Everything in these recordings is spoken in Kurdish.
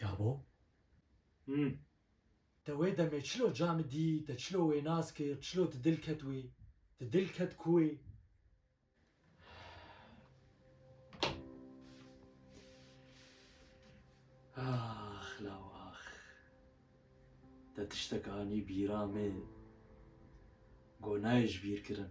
Ya bo? Him. Te wê demê çilo Cami dî, te çilo wê nas kir, çilo ti dil ket wî? Ti dil ket ku wê? Ax law ax. Te tiştek anî bîra min. Got nayê ji bîr kirin.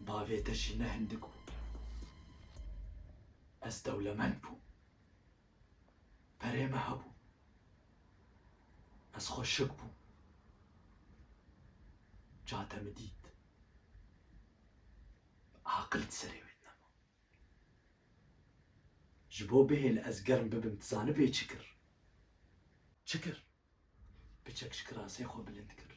Bavê te jî ne hindik bû. Ez dewlemend bûm. Perê me hebû. Ez xwe şik bûm. Ca te min dît. Aqil di serê wê de nema. Ji bo bihêl ez germ bibim dizanibê çi kir? Çi kir? Piçek ji kirasê xwe bilind kir.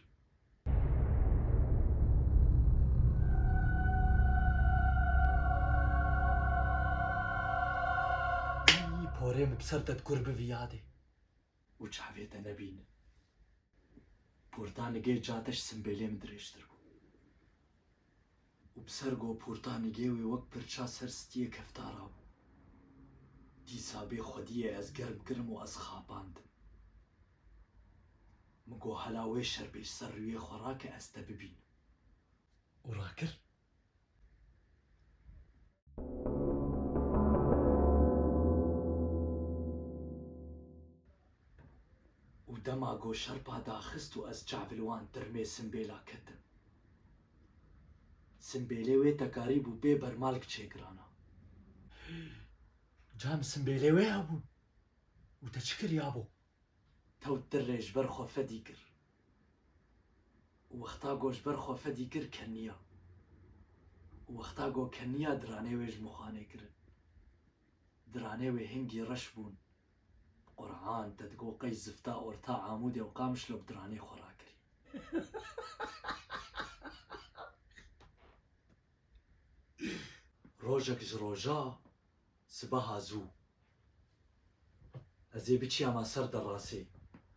Î porê min bi ser te dikur bivî yadê û çavê te nebînin. Portanigê cate ji simbêlê min dirêjtir bû. û bi ser gopûrta nigê wê wek pirça ser stiyê keftara bû. Dîsa bê xwediyê ez germ kirim û ez xapandim. Min got hela wê şerbêj ser rûyê xwe rake ez te bibînim. Û rakir. Û dema got şerpa daxist û ez çavilwan tirmê simbêla ketim. Simbêlê wê tekarî bû bê bermalg çêgirana. Can simbêlê wê ya bû û te çi kiriya bo? Tewt tirrê ji ber xwe fedî kir û wexta go ji ber xwe fedî kir keniya û wexta go keniya diranê wê ji mixanê kirin. Diranê wê hingî reş bûn Qur'an, Dedgo, Qeys, Zifta, Orta, Amûdê û Qamişlo bi diranê xwe rakirî. Rojek ji roja sibeha zû ez ê biçiyama ser derasê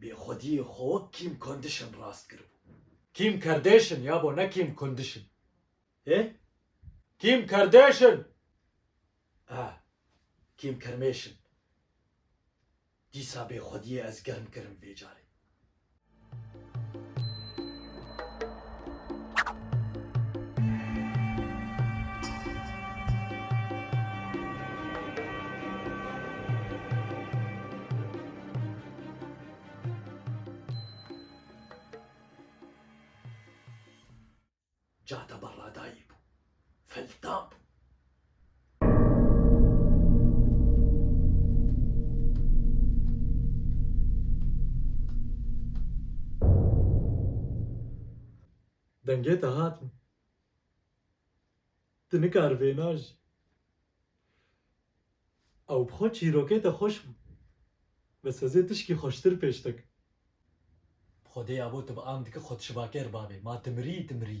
Bêxwediyê xwe wek Kim Kondişin rast kiribû. Kim Kardêşin ya bo ne Kim Kondişin. Hê? Kim Kardêşin! Ah, Kim Kermêşin. Dîsa bêxwediyê ez germ kirim vê carê. Cade Barradayî bû. Feltan bû. Dengê te hat min. Tu nikar vêna jî. Ew bi xwe çîrokê te xweş bû. Bi sazê tişkî xweştir pêş dek. Bi xwedê ya bo tu bi am dike xwed şivaker bavê. Ma tu mirî, tu mirî.